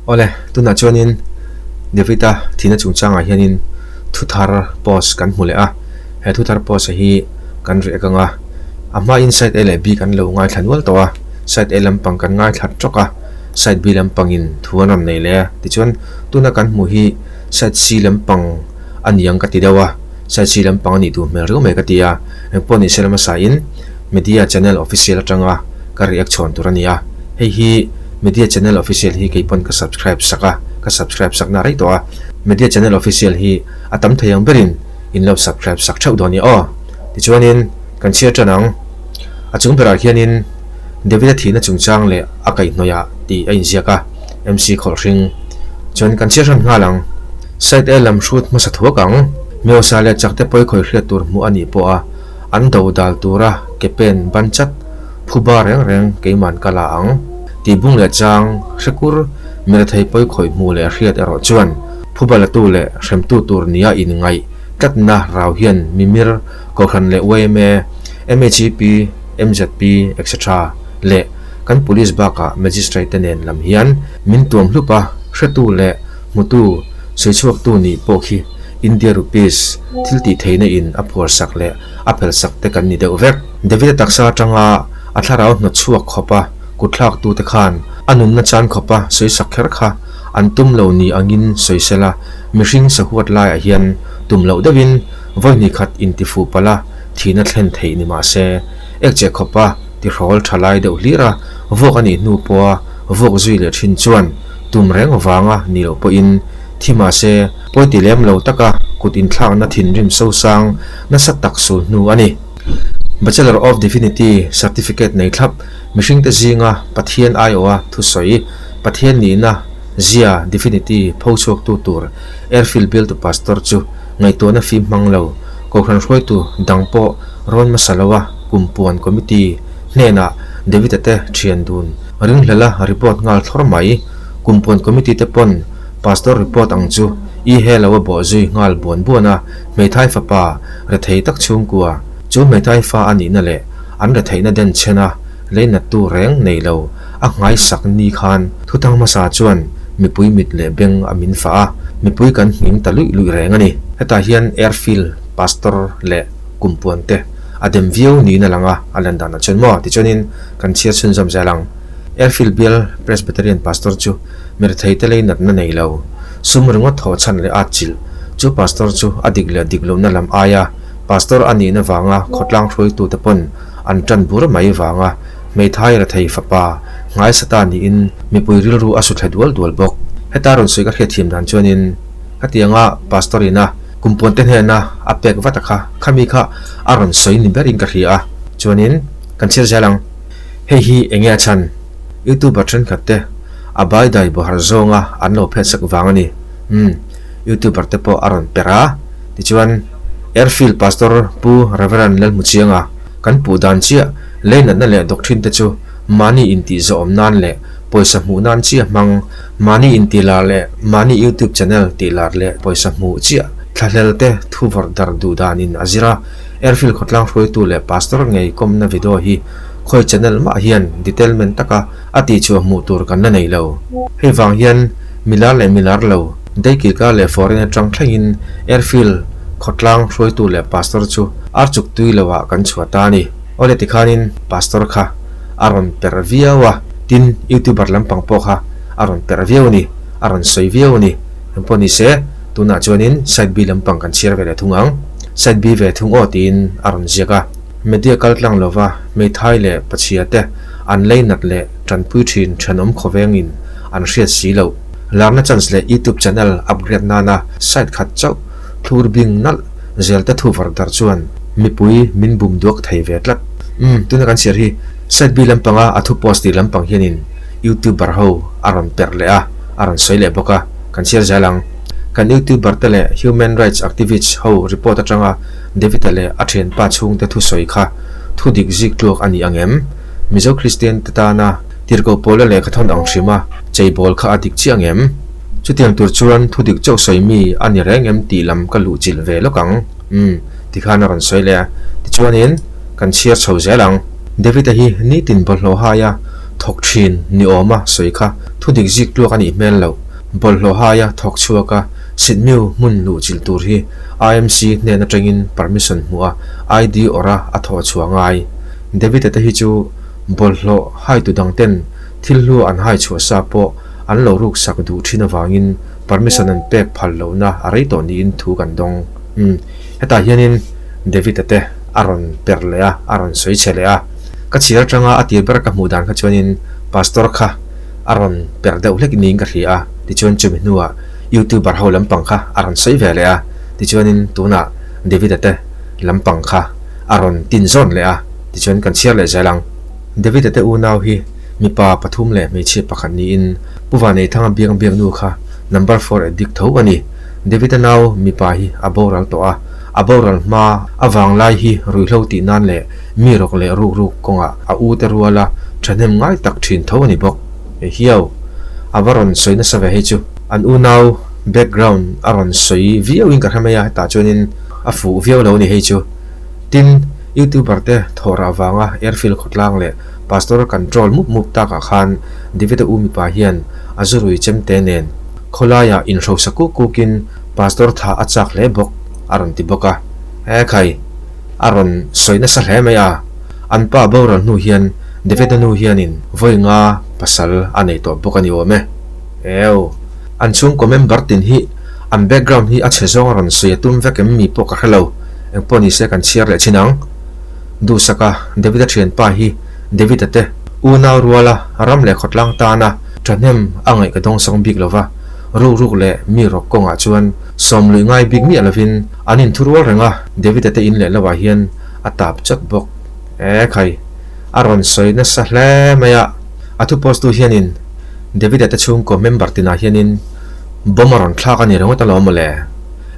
Awle, tunah chuanin David-a thihna chungchangah hianin thuthar post kan hmu leh a, he thuthar post hi kan ri akang a, a hmain side A leh B kan lo ngaithla nual tawh a, side A lampang kan ngaithlat trawk a, side B lampangin thu an rawn nei leh a, tichuan tuna kan hmuh hi side C lampang a niang ka ti deuh a. Saisi lampang a nih duh hmel riau mai ka ti a, eng pawh nih se lama sain Media Channel Official atanga ka react chhawn tur a ni a, hei hi Media Channel Official hi kei pawn ka subscribe sak a, ka subscribe sak na rei tawh a, Media Channel Official hi a tam thei ang berin in lo subscribe sak theuh dawn nia aw. Tichuanin kan chhiar tan ang, a chung berah hianin David-a thihna chungchang leh a kaihhnawih ah tih a inziak a, MC Kholhring chuan kan chhiar hran nghal ang. Side A lam hrut hmasa thuak ang, Myosa leh Chakte pawi khawih hriat tur hmuh a nih pawha an do dal tura ke pen ban chat, phu bar reng reng keiman ka la ang. Tibung leh chang hrekur mira thei pawi khawih hmuh leh hriat erawh chuan phu ba latu leh hremtu tur nia in ngaih tlatna rau hian mimir, Kohhran leh YMA, MHEP, MZP, etc. Leh kan police bakah magistrate te nen lam hian min tuam hlup a, hretu leh Hmutu, sawichhuaktu nih pawh khi India Rupees thiltih theihna in a phuarsak leh a phelsak te kan ni deuh vek. David a taksa atanga a thlarau hnawt chhuak khawpa kutthlaktu te khan a nunna chan khawpa sawisak kher kha an tum lo ni angin sawi sel a, mihring sahuat laiah hian tum loh deuhin vawi hnih khat intifuh pala thihna thlen theih ni mah se, ek che khawpa ti hrawl tha lai deuh hlir a, vawk a nih hnu pawha vawk zui leh thin chuan tum reng vanga ni loh pawhin thi mah se pawi ti lem lo taka kut inthlakna thinrim sosang nasa tak sul hnu a ni. Bachelor of Divinity certificate nei thlap mihringte zinga Pathian aiawha thusawi, Pathian nihna zia, Divinity, pho chhuaktu tur Airfield Bial tu Pastor chu Ngaihtuahna a fim hmang lo. Kohhran hruaitu dang pawh rawn hmasa lo a, kum puan committee hnenah Davita te thian dun ringhlala report nghal thlawr mai. Kum puan committee te pawn Pastor report ang chu i he lo a bawh zui nghal buan buan a, Hmeithai fapa rethei tak chhungkua chu Hmeithai fa a nihna leh an retheihna den chhena Hleinattû rêng nei lo a nghaisak ni khân Thutang hmasa chuan mipui mit leh beng a min fah a, mipui kan hming ta luih luih rêng a ni. Hetah hian Airfield Pastor leh kum puante a dem viau niin a lang a, a lan dan a chuan maw? Tichuanin kan chhiar chhun zawm zel ang. Airfield Bial Presbyterian Pastor chu mirthei te lei natna nei lo, sum ringawt thawh chhan leh atchilh chu Pastor chu a dik leh dik lohna lam aia Pastor a nihna vanga khawtlang hruaitute pawn An tan bur mai vang a, Hmeithai Rethei fapa ngaisa ta niin mipui rilru a su thla dual dual bawk. Heta rawn sawi ka hriat thiam dan chuanin ka tiang a, Pastor ina kumpuante hnena a pek vata kha khami kha a rawn sawi ni berin ka hria a, chuanin kan chhiar zel ang. Hei hi enge a chhan? Youtuber thenkhatte a baidai bawhar zawnga an lo phetsak vang a ni. Umm. Youtuber te pawh a rawn per a, tichuan Airfield Pastor Pu Rev. Lalhmuchianga kan puh dan chiah leinatna leh doctrine te chu mahni intih zawhawm nan leh pawisa hmuh nan chiah hmang, mahni intih lar leh mahni Youtube channel tih lar leh pawisa hmuh chiah thlahlel te thuvawrh dar duh danin a zir a, Airfield khawtlang hruaitu leh Pastor ngei kawmna video hi khawi channel mah hian detailment taka. A tihchhuah hmuh tur kan la neih lo. Hei vang hian milar leh milar lo, daikilka leh foreign atang thlengin airfield khawtlang hruaitu leh pastor chu archuk tui lo ah kan chhuah ta a ni. Awle tikhanin pastor kha a rawn per viau a, tin youtuber lampang pawh kha a rawn per viau a ni, a rawn sawi viau a ni. Engpawh ni se, tunah chuanin side B lampang kan chhiar ve leh thung ang. Side B ve thung aw tiin a rawn ziak a. Media kal tlang lova hmeithai leh pachhia te, An leinak leh tanpui thin thenawm khawvengin an hriat si lo. Lakna chance leh YouTube channel upgrade nana site khat chauh thlur bing nalh zel te thu var dar chuan mipui min bum duak thei ve tlat. Umm tuna kan chhiar hi site bi lampanga a thu post tih lampang hianin YouTuber ho a rawn per leh a, a rawn sawi leh bawk a, kan chhiar zel ang. Kan YouTuber te leh human rights activists ho report atanga Davida leh a ṭhianpa chhungte thusawi kha thu dik zik tluak a ni ang em? Mizo Kristiante tana tirhkoh pawla lehkha thawn ang ṭhima cheibawl kha a dik chiah ang em? Chutiang tur chuan thu dik chauh sawi mi a ni reng em tih lam ka luh chilh ve lawk ang. Um, ti khan a rawn sawi leh a. Tichuanin kan chhiar chho zel ang. Davida hi nitin bawlhhlawhhaia thawk ṭhin ni awma sawi kha thu dik zik tluak a nih hmel lo. Bawlhhlawhhaia thawk chhuaka Sitmiu hmun luh chilh tur hi IMC nen atangin permission hmu a, ID awrha a thaw a chhuah ngai. David ata hi chu bawlhhlawh haitu dangten thil hlu an hai chhuah sa pawh an lo ruksak duh thin avangin permission an pek phal lohna a rei tawh niin thu kan dawng. Umm, hetah hianin David ate a rawn per leh a, a rawn sawi chhe leh a. Ka chhiar atanga a tir ber ka hmuh dan kha chuanin Pastor kha a rawn per deuh hlek niin ka hria a, tichuan chumi hnuah Youtuber ho lampang kha a rawn sawi ve leh a, tichuanin tunah Davida te lampang kha a rawn tin zawn leh a, tichuan kan chhiar leh zel ang. Davida te unau hi mipa pathum leh hmeichhia pakhat niin Puva Neithanga biang biaknu kha number four e dik tho a ni. Davida nau mipa hi a boral tawh a, a boral hma a vanglai hi ruihhlo tih nan leh mi rawk leh ruk ruk kawngah a u te ruala thahnem ngai tak thin tho a ni bawk. He hiau a va rawn sawi nasa ve hi chu an unau background a rawn sawi viau in ka hre mai a hetah chuan in a fuh viau lo ni hei chu tin youtuber te thawh rah vang a airfield khawtlang leh pastor control mup mup tak ah khan David-a u mipa hian a zu rui chem te nen khawlai ah in hrosa kuk kuk in pastor tha a chak hle bawk a rawn ti bawk a he khai a rawn sawi nasa hle mai a. An pa boral hnu hian Deveda nu hianin vawi nga pasal a nei tawh bawk a ni awm e. Ew. An chhungkaw member tin hi an background hi a chhe zawng a rawn sawi a tum vek em? Mi pawh ka hre lo, engpawh ni se kan chhiar leh chin ang. Duhsaka, Devida thianpa hi Devida te, unau ruala, ram leh khawtlang tana thahnem a ngaih ka dawng sawng bik lo va, rukruk leh mi rawk kawngah chuan sawmluih ngai bik miah lovin an inthu rual reng a, Devida te in leh lohah hian A tap chawt bawk e khai, a rawn sawi nasa hle mai a. A thu post tu hianin Davida te chhungkaw member tinah hianin bomb a rawn thlak a nih ringawt alawm mawle.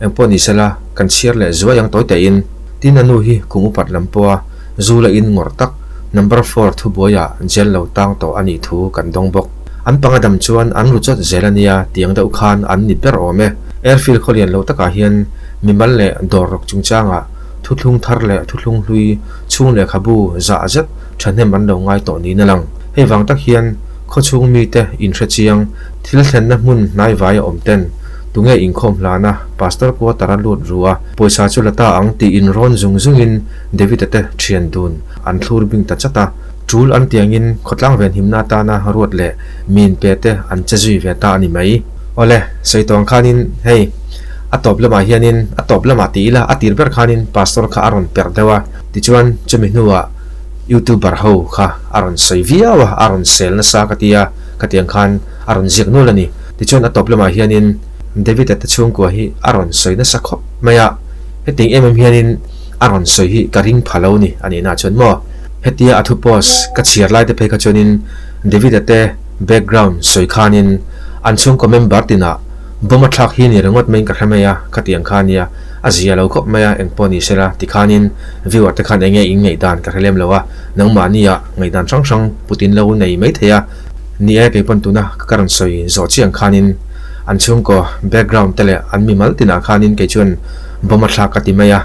Engpawh ni sela kan chhiar leh zuai ang tawi tehin tin a nu hi kum upat lam pawha zu la in ngawr tak number four thu buaia jail lo tang tawh a nih thu kan dawng bawk. An panga dam chuan an ru chawt zel a nia tiang deuh khan an ni ber awm e. Airfield khawlian lo takah hian mimal leh dawr rawk chungchangah Thuthlung thar leh thuthlung hlui chhung lehkhabu zah zet thahnem an lo ngai tawh niin a lang. Hei vang tak hian khaw chhung mite inhre chiang, thil thlenna hmun hnaivai a awm ten tu nge inkhawm hlan a, Pastor quarter a lut ru a, pawisa chu la ta ang tiin rawn zung zungin David-a te thian dun an thlur bing ta chat a, tul an tiangin khawtlang venhimna atana ruat leh min pe te an che zui ve ta a ni mai. Awle, Sawihtawng khanin hei a tawp lamah hianin a tawp lamah ti ila a tir ber khanin Pastor kha a rawn per deuh a, tichuan chumi hnuah Youtuber ho kha a rawn sawi viau a, a rawn sel nasa ka ti a, khatiang khan a rawn ziak nual a ni. Tichuan a tawp lamah hianin David-a te chhungkua hi a rawn sawi nasa khawp mai a, hetiang em em hianin a rawn sawi hi ka ring pha lo ni a nih na chuan maw, hetia a thu post ka chhiar lai te phei kha chuanin David-a te Background sawi khanin an chhungkaw member tinah Bawm a thlak hi ni ringawt maiin ka hre mai a, khatiang kha ania a zia lo khawp mai a, engpawh ni sela tikhanin viewer te khan enge in ngaihdan ka hre lem lo a, nangmahniah ngaihdan hrang hrang putin lo nei mai thei a ni e, keipawn tuna ka rawn sawi zawh chiang khanin an chhungkaw background te leh an mimal tinah khanin kei chuan Bawm a thlak ka ti mai a,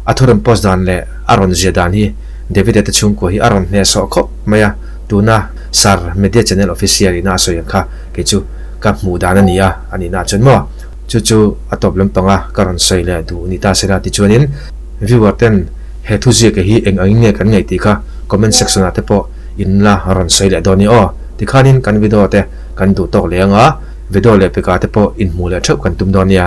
a thu rawn post dan leh a rawn zia dan hi Davide te chhungkaw hi a rawn hnehsawh khawp mai a. Tuna Sir Media Channel Official ina a sawi ang kha kei chu ka hmuh dan a nia a nihna ah chuan maw? Chu chu a tawp lampanga ka rawn sawi leh duh ni ta se la tichuanin viewer ten he thu ziak hi eng ang in nge kan ngaih tih kha comment section ah te pawh in la rawn sawi leh dawn i aw tikhanin kan video te kan duh tawk leh anga video leh peka te pawh in hmuh leh theuh kan tum dawn nia.